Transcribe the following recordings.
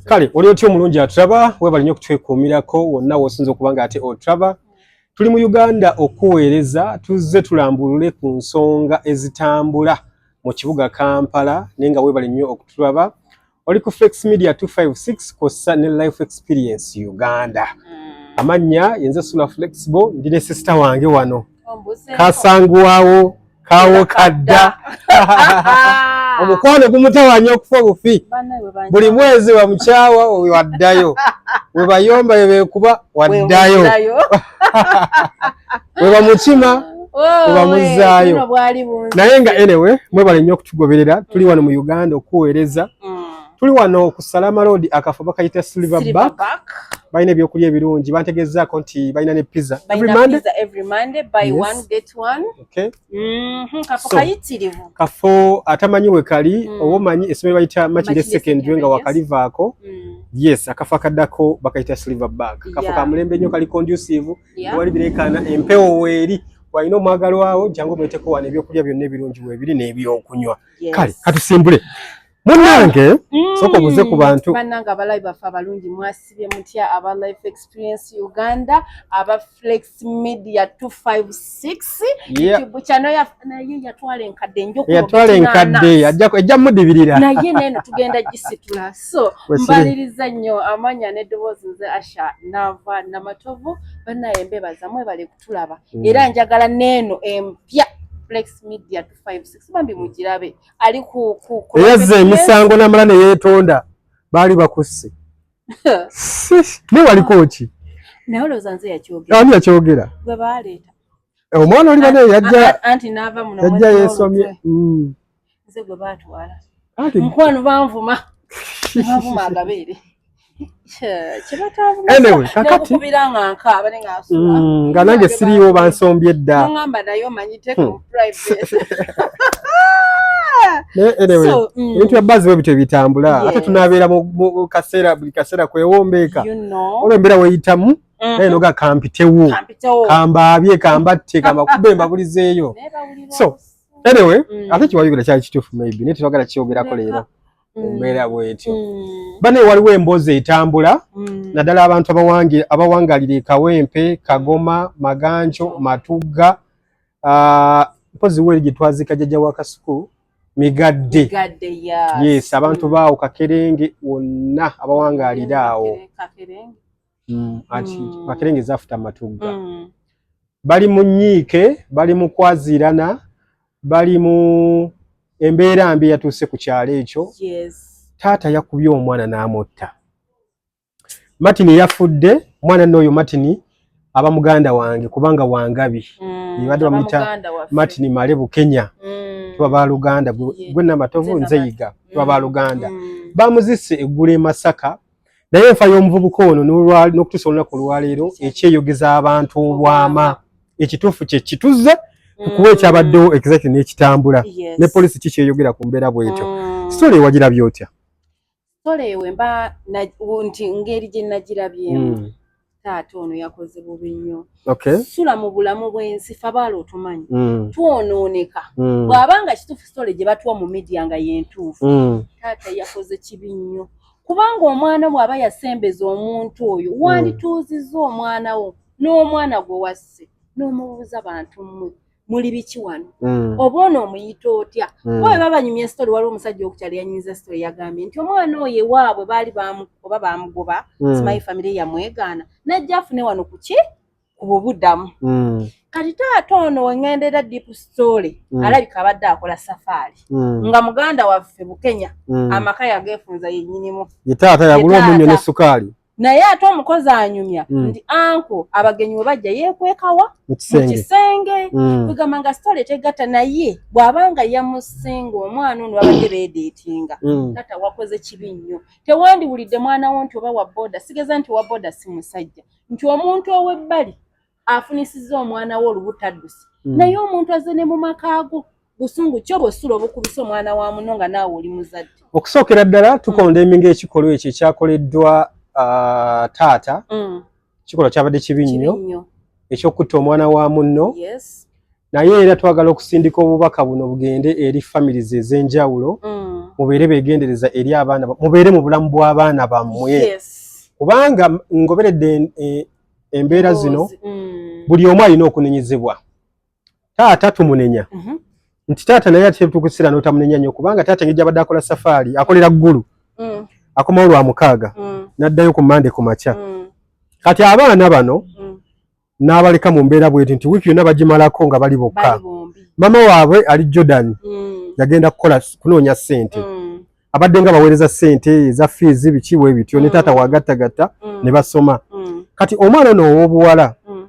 kale oli otya omulungi atraba webali nyo okutwekuumirako wonna wosinza okuba nga ate otraba tuli mu uganda okuweereza tuzze tulambulule ku nsonga ezitambula mu kibuga kampala naye nga webali nnyo okutulaba oli ku flex media 256 kossa ne life experience uganda mm. amannya yenze sula flexible ndi ne sisita wange wano kasanguwawo kawo kadda omukwano gumutawanya okufa obufi buli mwezi wamukyawa waddayo webayomba webekuba waddayo webamukima webamuzaayo oh, naye nga enewe mwebale nnyo okutugoberera tuli wano mu uganda okuweereza mm. Tuli wano ku Salama Road akafo bakayita Silver Back. Balina ebyokulya ebirungi bantegezaako nti balina ne pizza every Monday. Pizza every Monday buy yes. one get one. Okay. Mm -hmm. Kafo so, kayitirivu. Kafo atamanyi we kali mm. owo manyi esomero bayita Makinde Secondary nga wakalivaako. Mm. Yes, akafo akaddako bakayita Silver Back. Kafo yeah. ka mulembe nnyo kali conducive. Yeah. Wali birekana empewo weeri. walina omwagalwawo jangu omweteko wano ebyokulya byonna ebirungi webiri n'ebyokunywa kale katusimbule munange mm. soka obuze ku bantu banange abalayi baffe abalungi mwasibye mutya aba life experience uganda aba flex media 256 chano naye yatwala enkadde njokuyatwala enkadde ejja mudibirira naye neno tugenda gisitula so mbaliriza nnyo amanya n'eddoboozi nze asha nava namatovu banaye mbebaza mwebale kutulaba mm. era njagala neeno empya flex media 256 bambi mugirabe ali ku ku ku eyazza emisango namala ne yeetonda baali bakusse naye waliko ki naye olowooza nze yakyogera ani yakyogera gwe baaleeta eh, omwana oli bane yajja anti naava muno yajja yeesomye mm. nze gwe baatwala mukwano banvuma banvuma agabeere anyway kakati mm, nga nange siriiwo bansombye dda hmm. eh, anyway mm. ebintu bya bazi bwe bityo bitambula ate tunabeera mu kaseera buli kaseera kwewombeeka olwo embeera weyitamu mm-hmm. naye noga kampitewo kambaabye kambatte kambakube mbabulizeeyo so anyway mm. ate kiwayogera kyali kituufu maybe naye tetwagala kyogerako leero mu mm. mbeera bwetyo mm. bane waliwo emboozi etambula mm. naddala abantu abawangalira ekawempe kagoma maganjo matugga ah, mpozi weri gyetwazika jajja wa kasuku migadde yes abantu baawo kakerenge wonna abawangalira awo mm. anti mm. makerenge zafuta matugga mm. bali mu nyiike bali mu kwaziirana bali mu embeera mbi yatuuse ku kyalo ekyo yes. taata yakubye omwana n'amutta martin yafudde omwana nooyo martin aba muganda wange kubanga wangabi mm, ibadde bamuyita martin male bukenya mm. tuba baluganda gwe namatovu nzeyiga tuba baluganda mm. bamuzise eggula e masaka naye enfa y'omuvubuka ono n'okutuusa olunaku olwaleero ekyeyogeza abantu obwama ekituufu kye kituzze kukuba ekyabaddewo exactly n'ekitambula ne poliisi kikyeyogera ku mbeera bwetyo mm. sitole ewagirabye otya sitole ewe mba nti ngeri gye nagirabyemu mm. taata ono yakoze bubi nnyo okay. sula mu bulamu bwensi fe abaala otumanyi mm. twonooneka mm. bw'aba nga kituufu sitole gye batuwa mu midiya nga yentuufu mm. taata yakoze kibi nnyo kubanga omwana bw'aba yasembeza omuntu oyo mm. wandituuzizza omwana wo n'omwana gwe wasse n'omubuuza bantu mmwe muli biki wano mm. oba ono omuyita otya mm. oba bebabanyumya story waliwo omusajja okukyala yanyiza story yagambye nti omwana oyo ewaabwe baali oba bamugoba mm. simayi famire yamwegaana najja afune wano kuki ku bubudamu mm. kati taata ono wengendera deep story mm. alabika abadde akola safaari mm. nga muganda waffe bukenya mm. amaka yagefunza yenyinimu yetaata yagula omunyo ne sukaali naye ate omukozi anyumya mm. nti anko abagenyi we bajja yeekwekawa mu kisenge mm. kwegamba nga sitole tegatta naye bw'aba nga yamusinga omwana ono babadde beedeetinga mm. tata wakoze kibi nnyo tewandiwulidde mwana wo nti oba wa boda sigeza nti owa boda si musajja nti omuntu ow'ebbali afunisizza omwana we olubutaddusi mm. naye omuntu azze ne mu maka ago busungu kyo bwesula obukubisa omwana wa muno nga naawe oli muzadde okusookera ddala tukonda mm. eminga ekikolwa ekyo ekyakoleddwa uh, taata mm. kikolwa kyabadde kibi nnyo ekyokutta omwana wa munno yes. naye era twagala okusindika obubaka buno bugende eri families ez'enjawulo mm. mubeere begendereza eri abaana mubeere mu bulamu bw'abaana bammwe yes. kubanga ngoberedde e, embeera zino mm. buli omu alina okunenyezebwa taata tumunenya mm -hmm. nti taata naye atetukusira notamunenya nyo kubanga taata ngeri gyabadde akola safaari akolera ggulu mm. akomawo lwa mukaaga mm. n'addayo ku mande ku makya mm. kati abaana bano mm. n'abaleka mu mbeera bweti nti wiiki yonna bagimalako nga bali bokka mama waabwe ali jordan mm. yagenda kukola kunoonya ssente mm. abadde nga baweereza ssente eza fiizi biki bwe bityo ne mm. taata wagattagatta mm. ne basoma mm. kati omwana ono ow'obuwala mm.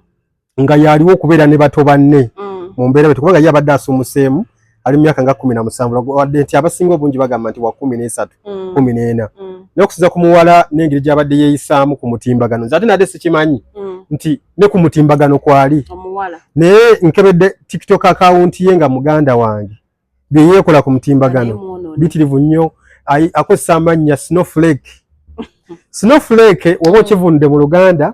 nga yaaliwo okubeera ne bato banne mm. mu mbeera bweti kubanga ye abadde asumuseemu ali myaka nga kumi na musanvu wadde nti abasinga obungi bagamba nti wa kumi n'esatu mm. kumi n'ena mm. naye okusinza ku muwala n'engeri gy'abadde yeeyisaamu ku mutimbagano nze ate nadde sikimanyi mm. nti ne ku mutimbagano kwali naye nkebedde tiktok akawunti ye nga muganda wange bye yeekola ku mutimbagano bitirivu nnyo akozesa amannya snowflake snowflake oba okivunudde mu luganda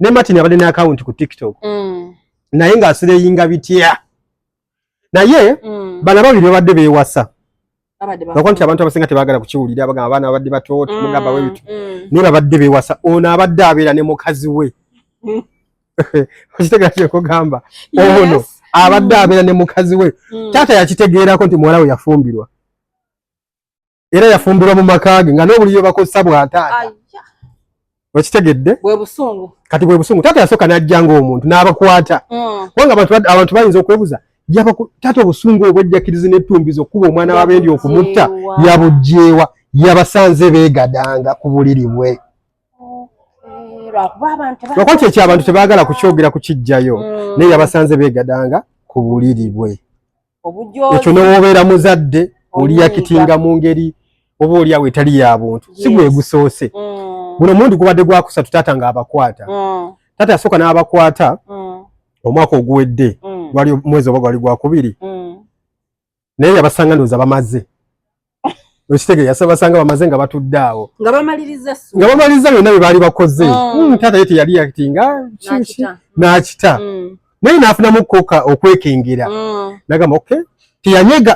ne martin abadde ne akawunti ku tiktok mm. naye ng'asireyinga bitya naye mm. bana babiri babadde bewasa bakuba nti abantu abasinga tebagala kukiwulira bagamba abaana babadde bato timugamba mm, webitu mm. naye babadde bewasa ono abadde abeera ne mukazi we mm. okitegera kyekugamba ono abadde abeera ne mukazi we taata yakitegeerako nti muwala we yafumbirwa era yafumbirwa mu maka ge nga n'obuliyo bakozesa bwa taata okitegedde kati bwe busungu taata yasooka n'ajja ng'omuntu n'abakwata mm. kubanga abantu bayinza okwebuza taata obusungu obwejjakirizi n'ettumbiza okukuba omwana wabendi okumutta yabugyewa yabasanze beegadanga ku buliri bwe lwakuba kyekyo abantu tebaagala kukyogera kukijjayo mm. naye yabasanze beegadanga ku buliri bwe ekyo newobeera muzadde oliyakitinga mu ngeri oba oliawo etali ya buntu si gwegusoose mm. guno mundi gubadde gwakusatu taata nga abakwata mm. taata yasooka n'abakwata mm. omwaka oguwedde gwali mwezi oba gwali gwakubiri naye yabasanga ndooza bamaze okitegere yasabasanga bamaze nga batudde awo nga bamaliriza byonna bye baali bakoze oh. hmm, taata ye teyali yakitinga n'akita hmm. naye n'afunamu koka okwekengera hmm. nagamba ok teyanyega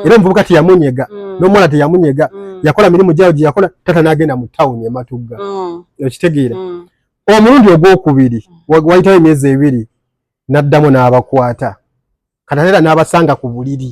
era omuvubuka teyamunyega n'omuwala teyamunyega yakola mirimu gyawo gye yakola taata n'agenda mu tawuni ematugga okitegeera omulundi ogwokubiri wayitawo emyezi ebiri n'addamu n'abakwata katateera n'abasanga ku buliri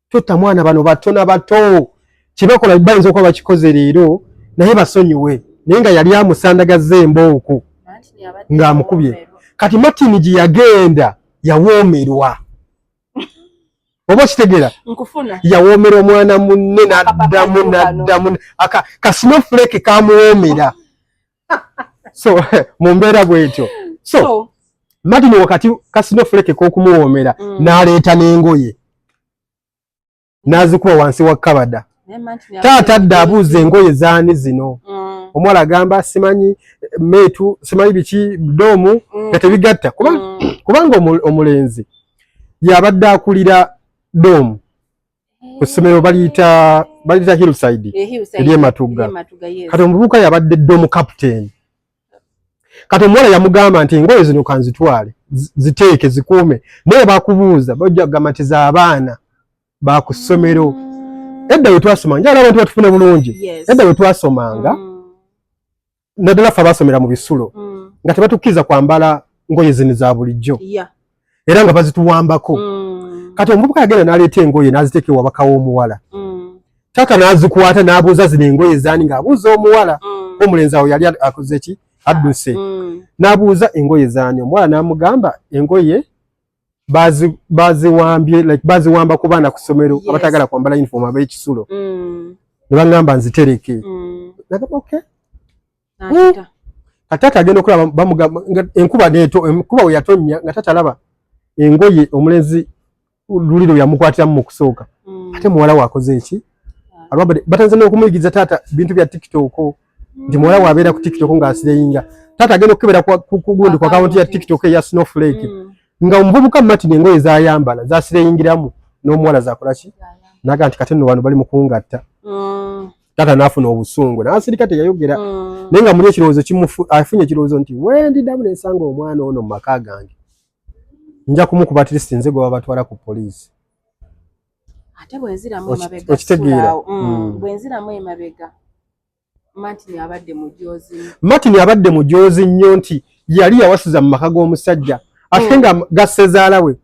Tutta mwana bano bato na bato. Kibakola bayinza okuba bakikoze leero naye basonyiwe naye nga yali amusandagazza embooko ng'amukubye. Kati Martin gye yagenda yawoomerwa. Oba okitegera yawomera omwana munne naddamu naddamu kasnofuleke kamuwomera so mu mbeera bwetyo so, so Martin wakati kasino fuleke kokumuwomera mm. naleeta n'engoye n'azikuba wansi wa kabada taata adda abuuza engoye zaani zino mm. omuwala agamba simanyi meetu simanyi biki doomu mm. nga tebigatta kubanga mm. omulenzi yabadde akulira doomu ku ssomero baliyita baliyita hillside eri ematugga kati omuvubuka yabadde dda omukaputeni kati omuwala yamugamba nti engoye zino kanzitwale ziteeke zikuume naye bakubuuza bajja kugamba nti zaabaana ba ku ssomero mm. edda we twasomanga njala abantu batufune bulungi edda we twasomanga mm. naddala ffe abaasomera mu bisulo mm. nga tebatukkiriza kwambala ngoye zino za bulijjo era nga bazituwambako mm. kati omuvubuka yagenda n'aleeta engoye n'aziteeka ewabaka w'omuwala mm. taata n'azikwata n'abuuza zino engoye ezaani ng'abuuza omuwala omulenzi awo yali akoze ki adduse n'abuuza engoye zaani omuwala n'amugamba engoye bazi baziwambye like baziwamba ku baana ku ssomero yes. abatagala kwambala uniform ab'ekisulo mm. ne baŋŋamba nzitereke mm. nagamba oky hmm. kataata agenda okulaba bamugamba enkuba neto enkuba we yatonnya nga taata alaba engoye omulenzi luli lwe yamukwatiramu mu kusooka mm. ate muwala waakoze eki batanze n'okumuyigiriza taata bintu bya tiktok nti muwala wabeera ku tiktok nga asireyinga taata agenda okukebera kugundi ku akawunti ya tiktok eya snowflake mm. nga omuvubuka martin engoye zayambala zasireyingiramu n'omuwala zakolaki naga nti kati nno wano bali mukungatta mm. taata nafuna obusungu nasirika teyayogera mm. naye nga muli ekirowoozo afunye ekirowoozo nti wendidamu nensanga omwana ono mu maka gange nja kumukuba at least nze gwe babatwala ku poliisi ate bwenziramu emabega okitegeera mm, mm. bwenziramu emabega martin abadde mujoozi martin abadde mujoozi nnyo nti yali yawasiza mu maka g'omusajja ate mm. nga gasezaala we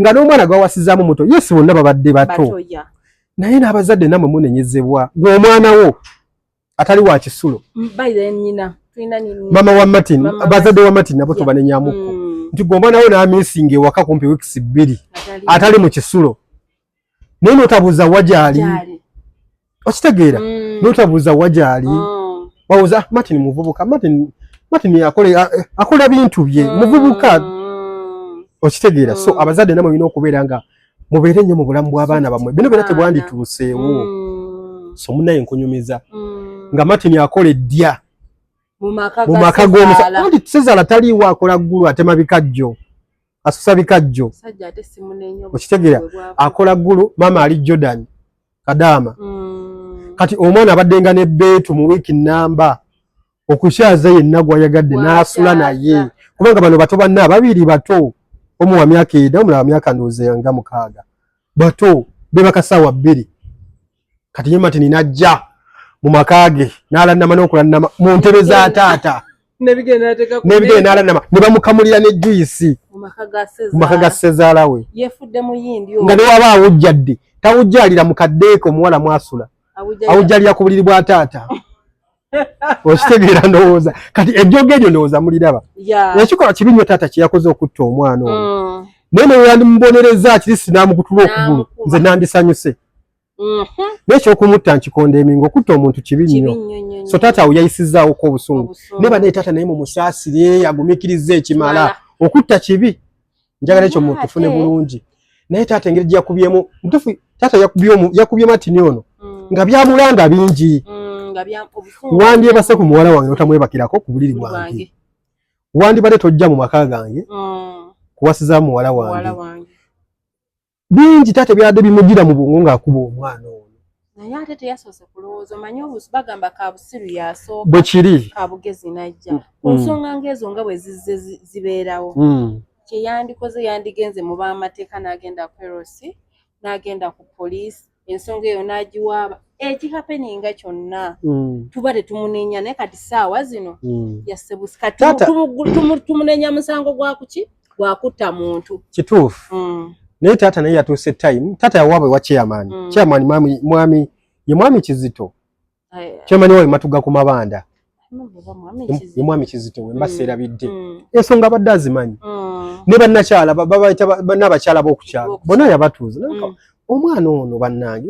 nga n'omwana gwawasizaamu muto yesi bonna babadde bato naye n'abazadde namwe munenyezebwa gweomwana wo atali wa kisulo mm, mama wa martin bazadde wa martin nabo tobanenyamuko mm. nti gwe omwana we namisinga ewaka kumpi weeks bbiri atali mu kisulo naye notabuuza wajaali okitegeera mm. notabuuza wajaali oh. wawuza ah, martin muvubuka martin martin eh, akola bintu bye muvubuka okitegeera so abazadde namwe olina okubeera nga mubeere nnyo mu bulamu bw'abaana bammwe bino bera tebwandituuseewo mm. so munaye nkunyumiza mm. nga martin akola eddya mu maka g'omusajja sezaala taliiwo akola ggulu atema bikajjo asusa bikajjo okitegeera akola ggulu maama ali jordan kadaama mm. kati omwana abaddenga ne beetu mu wiiki namba okukyaza yenna gwayagadde n'asula naye kubanga bano bato banna ababiri bato omu wa myaka eda omulala myaka ndowooza yanga mukaaga bato bebakasaawa bbiri kati ye matini najja mu maka ge n'alannama n'okulannama mu ntebe za taata nebigere nalanama nebamukamulira ne juisi mumaka ga sezaala we nga newaba awujjadde tawujjalira mukaddeeko omuwala mwasula awujjalira ku buliri bwa taata okitegeera ndowooza kati ejjoga eryo ndowooza muliraba ekikolwa kibi nnyo taata kyeyakoze okutta omwana oyo mm. naye neweyandimubonereza kiri sinamugutula okugulu nze nandisanyuse mm-hmm. naye ekyokumutta nkikonda emingo okutta omuntu kibi nnyo so taata awo yayisizaawoko obusungu naye banaye taata naye mumusaasire agumikiriza ekimala okutta kibi njagala ekyo muntu tufune bulungi naye taata engeri gyeyakubyemu mutufu taata yakubye matini ono mm. nga byamulanda bingi mm, wandyebase ku muwala wange notamwebakirako ku buliri bwange wandibadde tojja mu maka gange mm. kuwasiza muwala wange bingi tate byade bimujira mu bwongo nga akuba omwana ono naye ate teyasose kulowooza omanyi obusu bagamba kabusiru yasooka bwekiri kabugezi najja mm. ku nsonga ngaezo nga bwe zizze zibeerawo mm. kyeyandikoze yandigenze mu bamateeka n'agenda kwerosi n'agenda ku poliisi ensonga eyo n'agiwaaba ekihapeninga kyonna mm. tuba tetumunenya naye kati saawa zino mm. yasebusikatimumunenya musango gwakuki gwakutta muntu kituufu mm. naye taata naye yatuuse time taata yawaabwe wa chairman chairman mwami ye mwami kizito kyemanyi wawe matuga ku mabanda ye mwami kizito we mbasa mm. erabidde mm. ensonga abadde azimanyi mm. ne bannakyala n'abakyala b'okukyalo bona yabatuuza omwana ono bannange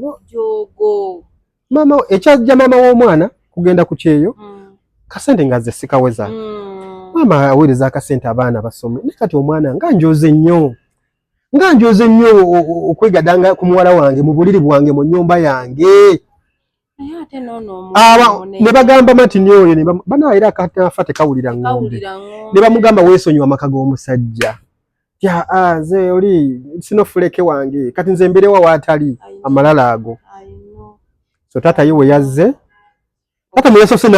ekyajja maama w'omwana kugenda ku kyeyo kasente nga ze sikaweza maama aweereza akasente abaana basome naye kati omwana nga njoze nnyo nga njoze nnyo okwegadanga ku muwala wange mu buliri bwange mu nnyumba yange ne bagamba matini oyo bana era katafa tekawulira ng'ombe ne bamugamba weesonyiwa amaka g'omusajja tya nze oli sino fuleke wange kati nze mberewa waatali amalala ago so taata ye we yazze taata mwe yasose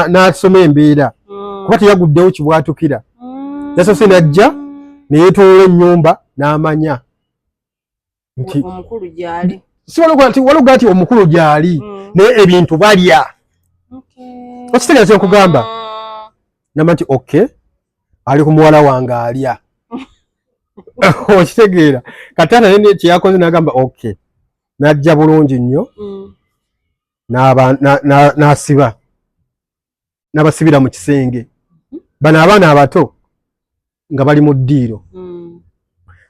n'asoma embeera mm. kuba teyaguddewo kibwatukira mm. yasose n'ajja ne yeetolola ennyumba n'amanya nti omukulu gyali si waloga nti waloga nti omukulu gyali mm. naye ebintu balya okitegeeza nkugamba mm. namba nti ok ali ku muwala wange alya okitegeera kataata naye kyeyakoze nagamba ok najja bulungi nnyo mm. n'asiba nabasibira mu kisenge mhm. bano abaana abato nga bali mu ddiiro mm.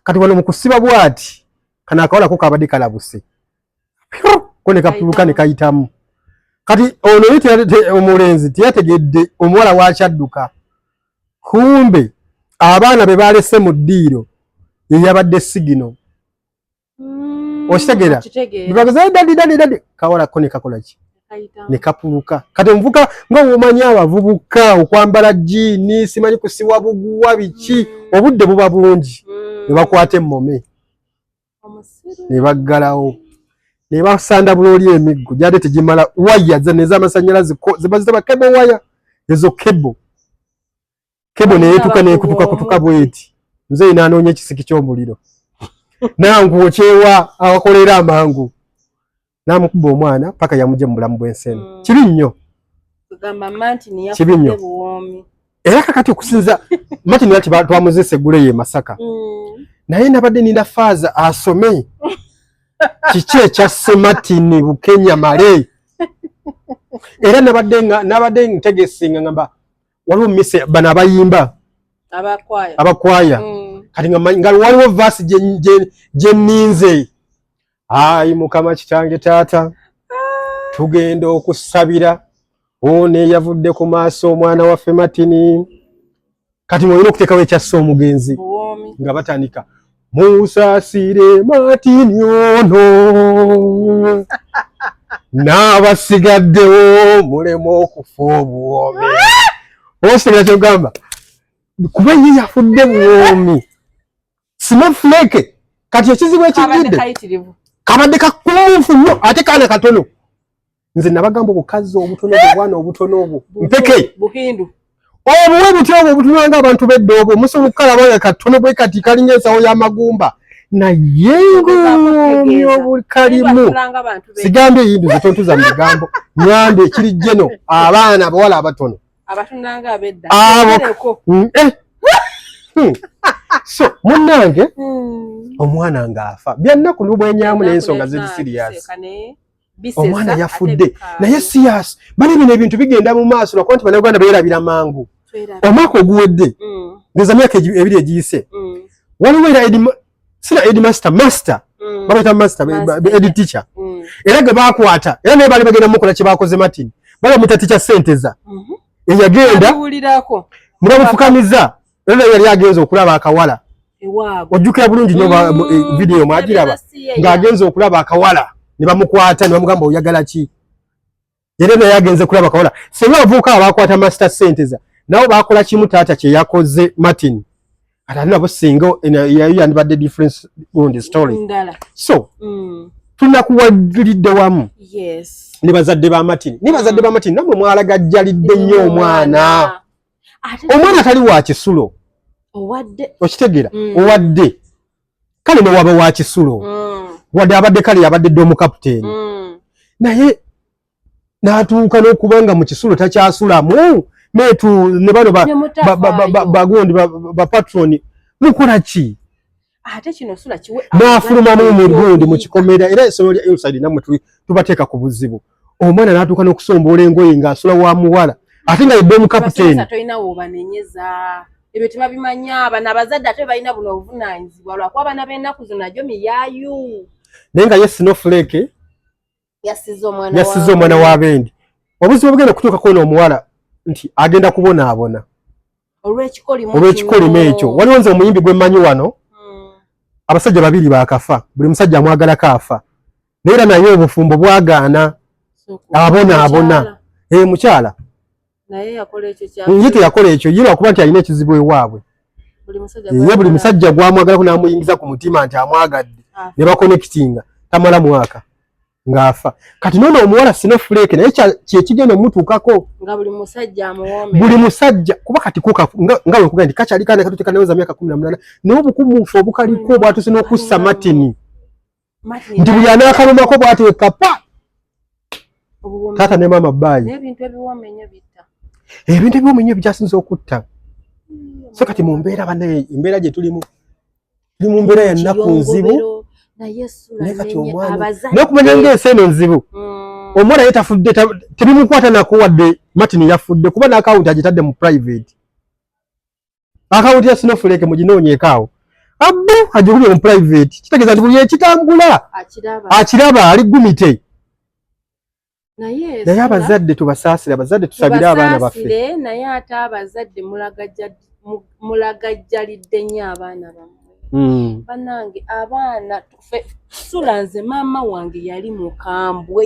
kati wano mukusiba bwati kano akawalako kabadde kalabuse ko nekapuluka nekayitamu kati ono ye omulenzi teyategedde omuwala wakyadduka kumbe abaana be balese mu ddiiro yeyabadde sigino mm, okitegera bebagezaa dadi dadi dadi kawala ko nekakola ki nekapuluka kati omuvuka nga womanyi abavubuka okwambala jiini simanyi kusiwa buguwa biki mm. obudde buba bungi mm. nebakwata emmome nebaggalawo nebasanda bulooli emiggo gyade tegimala waya zane zamasanyalaze zebazita bakebo waya ezo kebo kebo neyetuka nekutuka kutuka bweti mzee nanoonya ekisiki ky'omuliro nangu okyewa awakolera amangu namukuba omwana paka yamuje mu bulamu bw'ensi eno mm. kibi nnyo kibi nnyo era kakati okusinza mati nati twamuzesa eggule ye masaka mm. naye nabadde ninda faaza asome kiki ekya sematini bukenya male era nabadde ntegesinga ngamba waliwo mise bano abayimba abakwaya mm. kati nga waliwo vaasi gyeninze ayi mukama kitange taata ah. tugenda okusabira ono eyavudde ku maaso omwana waffe matini kati mwolina okuteekawo ekyassa omugenzi nga batandika musasire matini ono n'abasigaddewo mulema okufa obuwoomi osigala kyogamba kuba ye yafudde buwoomi simafuleke kati ekizibu ekijjidde kabadde kakumunfu nnyo ate kaana katono nze nabagamba obukazi obutono obwana obutono obwo mpeke buhindu obuwe butya obwo obutunanga abantu bedda obwo musobola okukalaba nga katono bwe kati kalinga ensawo y'amagumba naye ng'omi obukalimu sigambye eyindi zetontuza mu bigambo nyambi ekiri jeno abaana abawala abatono abo hmm, eh. hmm. so munnange hmm. omwana ng'afa byannaku nobwenyamu n'ensonga ziri siriyasi omwana yafudde naye siyas bali bino ebintu bigenda mu maaso lwakuba nti banauganda beerabira mangu omwaka oguwedde mm. ngeza myaka ebiri egiyise mm. waliwo era sina edmaster master mm. babaita master edi teacher era ge bakwata era naye bali bagenda mukola kyebakoze martin baba mutatikya sente za mm-hmm. eyagenda mubamufukamiza Era yali agenze okulaba akawala. Ewaabwe. Ojjukira bulungi nyo mm, eh, video mwagiraba nga agenze okulaba akawala ne bamukwata ne bamugamba oyagala ki? Era naye agenze kulaba akawala. Singa abavubuka abakwata master senteza nabo bakola kimu taata kye yakoze Martin. Ate nabo singa eh, yayo yandibadde difference on the story. Ndala. So. Mm. tunakuwagilidde wamu ne bazadde ba matini ne bazadde ba matini namwe mwalagajjalidde nnyo omwana omwana tali wa kisulo owadde okitegeera mm. owadde kale newaba wa kisulo mm. wadde abadde kale yabadde dde omukaputeeni mm. naye n'atuuka n'okuba nga mu kisulo takyasulamu metu ne bano bagundi bapatroni mukola ki ate kino sula kiwe n'afuluma mu mirundi mu kikomera era esolo lya inside namwe tuli tubateeka ku buzibu omwana n'atuuka n'okusomboola engoye ng'asula wa muwala ate nga yedde omukapiteeni tolina woobanenyeza ebyo tebabimanya abana abazadde ate balina buno obuvunaanyizibwa lwakuba abana b'ennaku zino najo miyaayu naye nga ye sinofuleke yassiza omwana wa bendi obuzibu obugenda kutuuka kwona omuwala nti agenda kubonaabona olw'ekikolimo ekyo waliwo nze omuyimbi gwe mmanyi wano hmm. abasajja babiri baakafa buli musajja amwagalako afa naye era naye obufumbo bwagaana abonaabona ee eh, mukyala naye yakola ekyo kya nje teyakola ekyo yira kuba nti alina ekizibu ewaabwe ye buli musajja gwamwagalako n'amuyingiza ku mutima nti amwagadde ah. ne bakonekitinga tamala mwaka ng'afa kati noona omuwala sino fuleeke naye kyekigenda omutuukako buli musajja kuba kati kuka nga wekuga nti kakyali kana katutekanaweza myaka kumi na munana naye obukumuufu obukaliko obwatuse n'okussa matini nti buli anaakalumako bwati wekapa taata ne maama baayi ebintu ebiwooma ennyo bikyasinza okutta hmm. so kati mu mbeera banaye embeera gye tulimu tuli mu mbeera ya nnaku nzibu naye kati omwana nokumanya ngaensi eno nzibu hmm. omwana ye tafudde tebimukwata nakuwadde martin yafudde kuba n'akawunti agitadde mu private akawunti ya sinofuleke muginoonyeeko awo abbo ajukuli on private kitegeeza nti buli ekitambula akiraba ali gumite naye abazadde tubasaasire abazadde tusabire abaana baffe naye ate abazadde mulagajjalidde nnyo abaana bamwe hmm. banange abaana sula nze maama wange yali mukambwe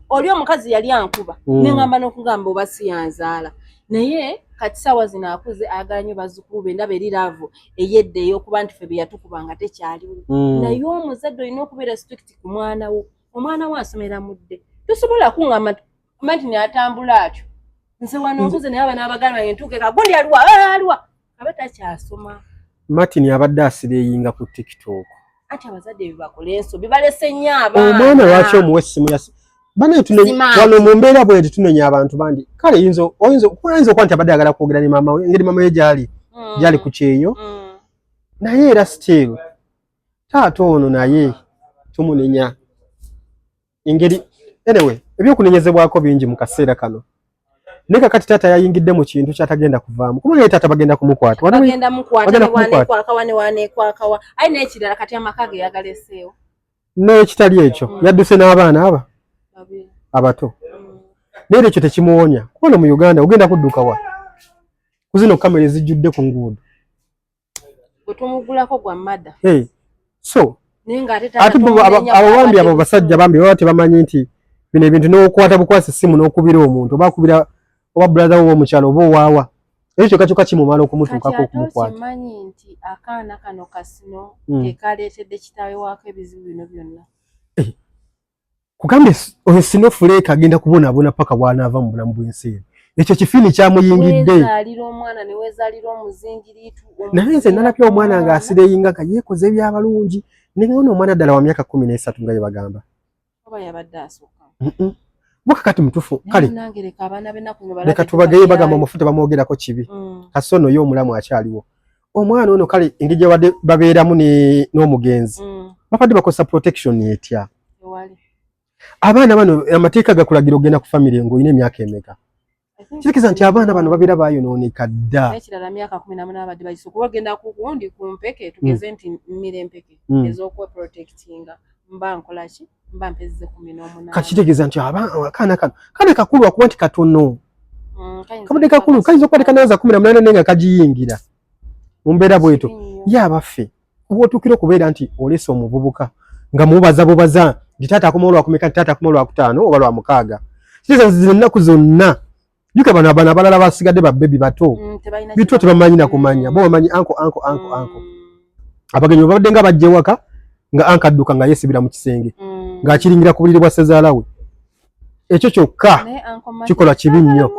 oli omukazi yali ankuba mm. neŋamba nokugamba oba siyanzaala naye kati saawa zino akuze ayagala nyo bazukulu be ndaba eri laavu eyedda eyokuba nti fe beyatukuba nga tekyaliwo mm. naye omuzadde olina okubeera strict ku mwana wo omwana wo asomera mudde tosobola kuŋamba nti neatambula atyo nze wano nkuze naye abana abagala bange ntuuke kagundi aliwa aliwa aba takyasoma martin abadde asireyinga ku tiktok ati abazadde bebakole enso bibalese nnyo abaana omwana lwaki omuwa essimu ya banaye tunewano mu mbeera bweti tunenya abantu bandi kale yinza oyinza okuba nti abadde agala kwogera ne maama we engeri maama we gyali mm. gyali ku kyeyo mm. naye era still taata ono naye tumunenya engeri anyway ebyokunenyezebwako bingi mu kaseera kano naye kakati taata yayingidde mu kintu kyatagenda kuvaamu kubanga ye taata bagenda kumukwatbagenda mukwatanewanekwakawanewanekwakawa aye nekirala kati amaka ge yagaleseewo nekitali ekyo mm. yadduse n'abaana aba abato mm. naye ekyo tekimuwonya kubona mu uganda ogenda kuddukawa kuzino kamera ezijjudde ku nguudo gwetomugulako gwa mada hey. so ate abawambi abo basajja bambi baba tebamanyi nti bino ebintu nokwata bukwasa essimu nokubira omuntu oba kubira oba brother wo omukyalo oba owaawa ekyo kyoka kyoka kimumala okumutuukako okumukwatakimanyi nti akaana kano kasino hmm. kekaleetedde kitaawe waako ebizibu bino byonna eh, kugambye oyo sino fuleka agenda kubona abona paka bwana ava mu bulamu bw'ensi eno ekyo kifiini kyamuyingidde naye nze nalabye omwana nga asireyinga nga yekoze ebyabalungi nengaona omwana ddala wa myaka kumi n'esatu nga yebagamba buka kati mutufu kale leka tubageye bagamba omufu tebamwogerako kibi mm. kasoono yo omulamu akyaliwo omwana ono kale engeri gyebadde babeeramu n'omugenzi mm. babadde bakozesa protection etya abaana bano amateeka gakulagira ogenda ku famire ngaolina emyaka emeka kitegeeza nti abaana bano babeera bayonooneka dda ekirala myaka kumi namu nabadde bagiso kuba ogenda kukundi ku mpeke tugeze mm. nti mmira empeke mm. ez'okweprotektinga mba nkolaki kakitegeeza nti akaana kano kaana kakulu akuba nti katono mm, kabadde kakulu kayinza okuba tekanaza kumi na munaana naye nga kagiyingira mu mbeera bweto ye abaffe oba otuukira okubeera nti oleese omuvubuka nga mubaza bubaza nti taata akoma olwakumeka nti taata akoma olwakutaano oba lwamukaaga kitegeeza nti zino ennaku zonna Yuka bana bana balala basigade ba baby bato. Mm, Bitwa tebamanyi na kumanya. Bo bamanyi anko anko anko mm. anko. Abagenyi babadde nga bajje waka nga anka adduka nga yesibira mu kisenge. Mm. Nga akiringira ku buliri bwa Sezala we. Ekyo kyokka kikola kibi nnyo.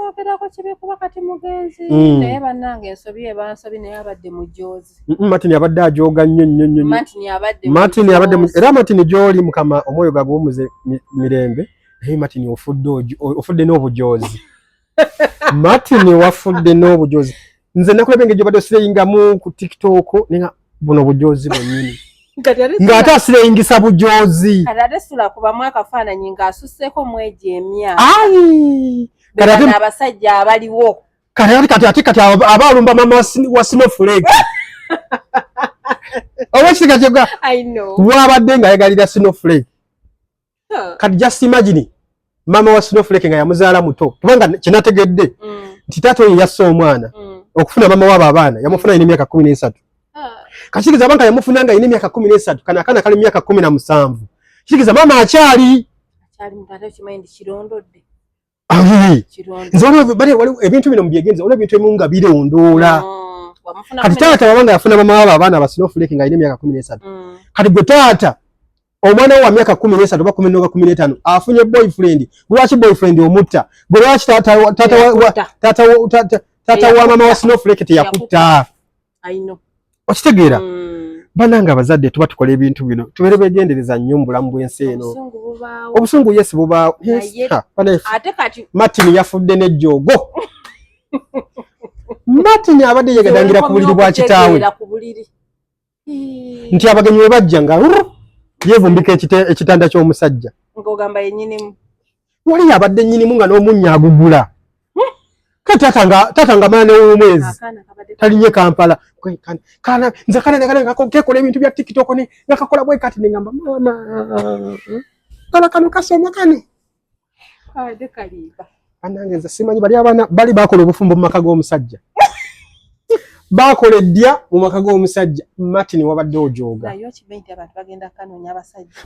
Mm. Naye banange ensobi ebansobi naye abadde mujoozi. Mm -mm, Martin abadde ajooga nnyo nnyo nnyo. Martin abadde. Martin abadde era Martin gyoli mukama omwoyo gagumuze mirembe. Mi, naye martin ofudde ofudde n'obujozi martin wafudde n'obujozi nze nakulaba engeri gyobadde osireyingamu ku tiktok ninga buno bujozi bwenyini ng'ate asireyingisa bujozi kati ate sula kubamu akafaananyi ng'asusseeko mwegi emyaka abasajja abaliwo kati ati kati ati kati aba alumba mama wa snowflake oba kisiga kyega wabadde ng'ayagalira snowflake kati just imagine mama wa snowflake nga yamuzaala muto kubanga kinategedde mm. nti taata oyo yassa omwana mm. okufuna mama waabo abaana yamufuna alina emyaka kumi n'esatu ah. kakiriza banka yamufuna nga alina emyaka kumi n'esatu kana akaana kali mumyaka kumi na musanvu kiriza mama akyali nze waliwo ebintu bino mubyegenza waliwo ebintu ebimu nga birondoola mm, kati taata waba nga yafuna mama wabo abaana basinofuleki nga alina emyaka kumi nesatu mm. kati gwe taata omwana wo wa myaka kumi nesatu oba kumi noba kumi netano afunye boyfriend lwaki boyfriend omutta gwe lwaki taata wa mama wa sinofuleki teyakutta okitegeera mm. banange abazadde tuba tukola ebintu bino tubeere begendereza nnyo mu bulamu bw'ensi eno obusungu yesi bubaawo martin yafudde nejjoogo martin abadde yegadangira ku buliri bwa kitaawe nti abagenyi we bajja nga yevumbika ekitanda ky'omusajja wali yabadde nyinimu nga n'omunnya agugula ka tata nga tata nga maana ow'omwezi talinye kampala kana nze kana nagala nkakekola ebintu bya tiktok ne nakakola bwe kati nengamba mama kala kano kasoma kano banange nze simanyi bali abaana bali bakola obufumbo mu maka g'omusajja baakola eddya mu maka g'omusajja martin wabadde ojooga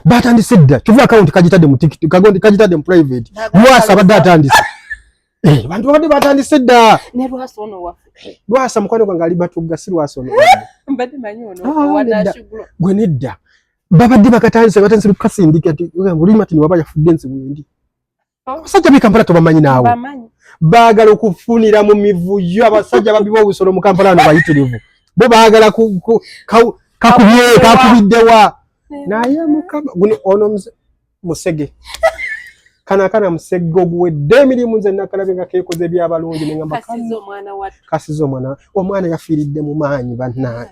baatandise edda kyova akawunti kagitadde mu tikit kagitadde mu private lwasa abadde atandise eh, bantu babadde batandise dda lwasa mukwano gwange ali batugga si lwasa ono ah, gwe nedda babadde bakatandise batandise lukasindika ti oli martin waba yafudde nsi wendi abasajja b'i kampala tobamanyi naawe baagala okufunira mu mivuyo abasajja babiba obusolo mu kampala ano bayitirivu bo baagala kakubye kakubiddewa naye mukama guno ono musege kano akana musegge oguwedde emirimu nze nakalabe nga kekoze ebyabalungi nengamba kasiza omwana omwana yafiiridde mu maanyi bannange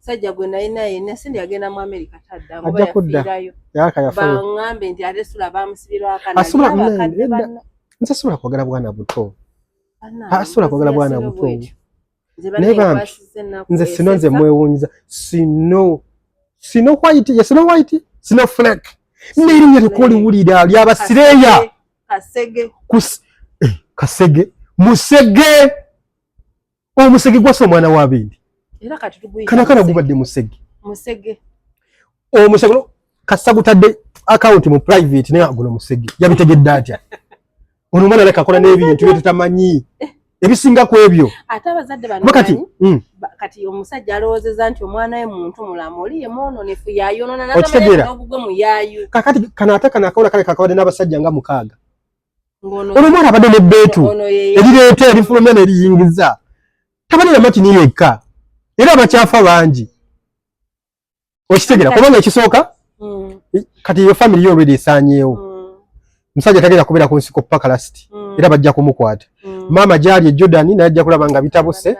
sajja gwe naye naye nasindi agenda mu america tadda ajja kudda yaka yafa bangambe nti ate sula bamusibira akana asula nze sula kwagala bwana buto asula kwagala bwana buto naye bambi nze sino nze mwewunyiza sino sino white ye sino white sino fleck nerinya lyokoliwulira lyabasireya kasege eh, kasege musege omusege gwasa omwana wa bindi era kati tuguyita kana kana gubadde musege musege omusege kasa gutadde account mu private naye aguno musege yabitegedde atya ono omwana leka kola n'ebintu bye tutamanyi eh. ebisinga ku ebyo ate abazadde bano kati mm. kati omusajja alowoozeza nti omwana we muntu mulamu oli ye mwononefu yayonona n'obugwe mu yayu kakati kana ate kana akawola kale kakabadde n'abasajja nga mukaaga olwomwana abadde nebbeetu erireeta erifulumya neriyingiza tabalira matini yekka era abakyafa bangi okitegera kubanga ekisooka mm. kati eyo famiry yo olwedi esanyeewo mm. musajja tagenda kubeera ku nsiko paka lasiti mm. era bajja kumukwata maama gyali e jordan naye ajja kulaba nga bitabuse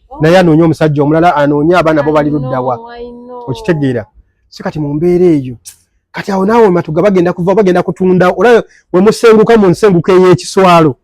oh. naye anoonye omusajja omulala anoonye abaana bo bali luddawa okitegeera si kati mu mbeera eyo kati awo naawe matuga bagenda kuva bagenda kutunda olaba wemusenguka mu nsenguka ey'ekiswalo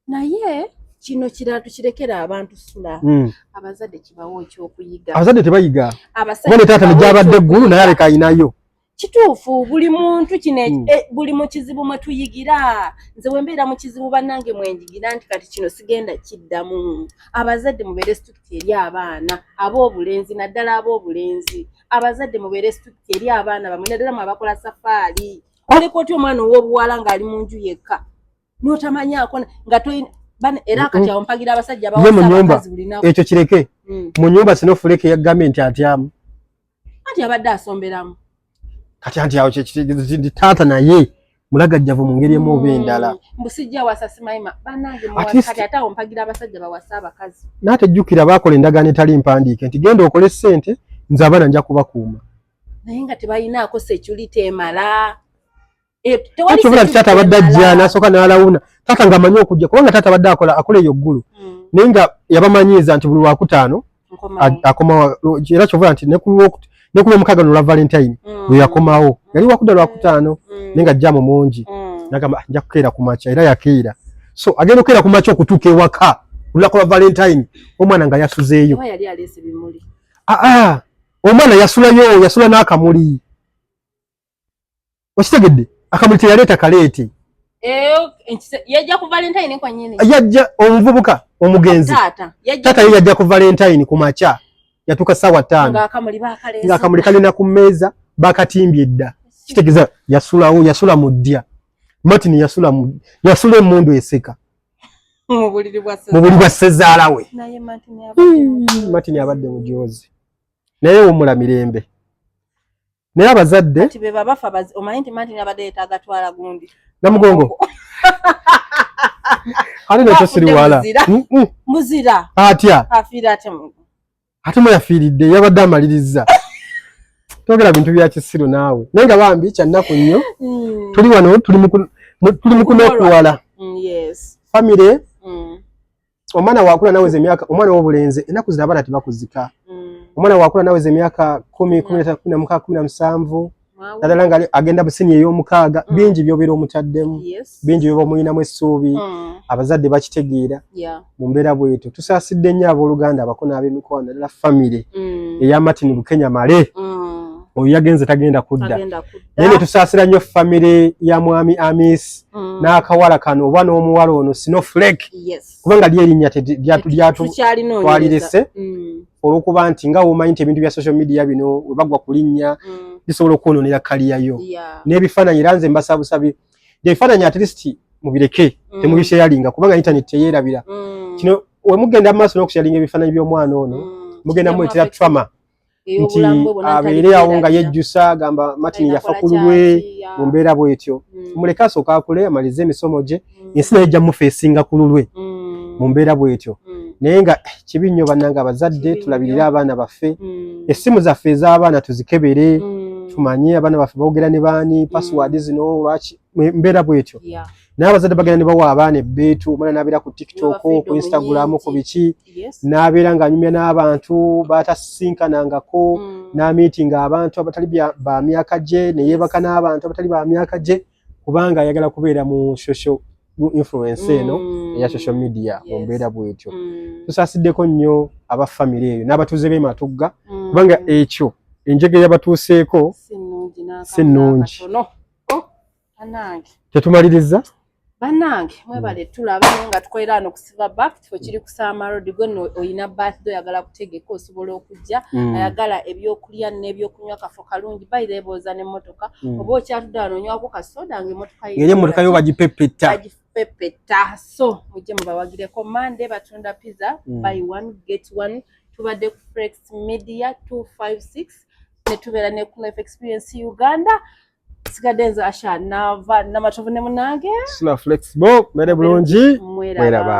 naye kino kirala tukirekera abantu sula hmm. abazadde kibawo ekyokuyiga abazadde tebayiga abasajja taata negyabadde eggulu naye aleka ayinayo kituufu buli muntu kino mm. e, buli mu kizibu mwe tuyigira nze bwe mbeera mu kizibu bannange mwenjigira nti kati kino sigenda kiddamu abazadde mubeere situti eri abaana ab'obulenzi naddala ab'obulenzi abazadde mubeere strict eri abaana bamwe naddala mu abakola safaali oleka otya omwana ow'obuwala ng'ali mu nju yekka n'otamanyaako nga toyina era kati awo mpagira abasajja bawamunyumba ekyo kireke hmm. mu nyumba sino fuleke ya gavumenti atyamu anti abadde asomberamu kati anti awo taata naye mulagajjavu mu ngeri emu oba mm. endala naate jjukira baakola endagaano etali mpandiike nti genda okole ssente nze abaana nja kubakuuma naye nga tebalinaako security emala eh, kyobula ti taata abadde ajja nasooka nalawuna taata nga amanyi okujja kubanga taata abadde akola akola eyo ggulu mm. naye nga yabamanyiiza nti buli wakutaano akomawo era kyova nti nekulwomukaga nolwa valentine mm. weyakomawo mm. yali wakuda lwakutaano mm. naye nga jamu mungi nagamba ah, nja kukeera ku makya era yakeera so agenda okukeera ku makya okutuuka ewaka olulako lwa valentine omwana nga yasuzeeyo aa ah, ah. omwana yasulayo yasula n'akamuli okitegedde akamuli teyaleeta kaleeti eh, yajja ku valentine kwanyini yajja omuvubuka omugenzi taata ye yajja ku valentine ku makya yatuuka saawa taano ng'akamuli kalina ku mmeeza bakatimbye edda kitegeza yasulawo yasula mu ddya martin yasula mu yasula emundu eseka mu buliri bwa ssezaala we martin abadde mujoozi naye wumula mirembe naye abazadde kati be baba fa bazi omanyi nti mati nabade yetaga twala gundi na mugongo ali na tosiri wala muzira mm, mm. muzira atya afira ate mungu ate mo yafiridde yabadde amaliriza togera bintu bya kisiru nawe naye nga bambi kya nnaku nnyo mm. tuli wano tuli mu tuli mu kunokuwala mm, yes family mm. omwana wakula nawe ze myaka omwana wo bulenze enaku zina bana tibakuzika mm. omwana wakula nawe ze myaka 10 10 13 17 nadala nga agenda busini eyo mukaga mm. bingi byo biro mutaddemu yes. bingi byo muyina mu suubi mm. abazadde bakitegeera yeah. mumbera bwetu tusasidde nya aboluganda abakona abe mikoa nadala family mm. eya Martin Bukenya male mm. oyo yagenze tagenda kudda nene tusasira nyo family ya mwami Amis mm. n'akawala kano oba n'omuwala ono sino flek yes. kubanga lyerinnya lyatwalirese mm. olwokuba nti nga womanyi nti ebintu bya social media bino webagwa ku linnya mm. bisobola okwononera kaliyayo yeah. n'ebifaananyi era nze mbasabusabi ebifaananyi at least mubireke mm. temubisheyalinga kubanga internet teyerabira mm. kino wemugenda mu maaso n'okusheyalinga ebifaananyi by'omwana ono mm. mugenda muletera trauma nti abeere awo nga yejjusa agamba martin yafa ku lulwe mu mbeera bwetyo mm. muleke asooka akule amalize emisomo gye mm. ensi naye ejja mufa esinga ku lulwe mm. mu mbeera bwetyo naye nga eh, kibi nnyo bannanga abazadde tulabirire abaana baffe essimu zaffe ez'abaana tuzikebere tumanye abaana baffe boogera ne baani pasiwaadi zino lwaki mbeera bwetyo naye abazadde bagenda ne bawa abaana ebbeetu omwana n'abeera ku tiktok ku instagram ku biki n'abeera ng'anyumya n'abantu baatasinkanangako mm. n'amiitinga abantu abatali ba myaka gye ne yeebaka n'abantu abatali ba myaka gye kubanga ayagala kubeera mu shosho influence eno mm. eya social media mu mbeera bwetyo mm. tusaasiddeko nnyo aba famire eyo n'abatuuze b'e matugga kubanga ekyo enjega eyabatuuseeko si nnungi oh. tetumalirizza banange mwebale hmm. tulaba naye nga tukolera ano kusiva back kifo kiri kusaama road gwe no oyina birthday oyagala kutegeka osobola okujja hmm. ayagala ebyokulya nebyokunywa kafo kalungi bayira ebooza nemotoka hmm. oba okyatudde wano onywako kasoda nga emotoka yeye emotoka yo bagipepeta bagipepeta so mujje mubawagireko mande batunda pizza buy one get one tubadde ku frex media 256 netubeera ne kunf experience uganda sigadde nze asha nava namatovu ne munange sula flexible mere bulungi mweraba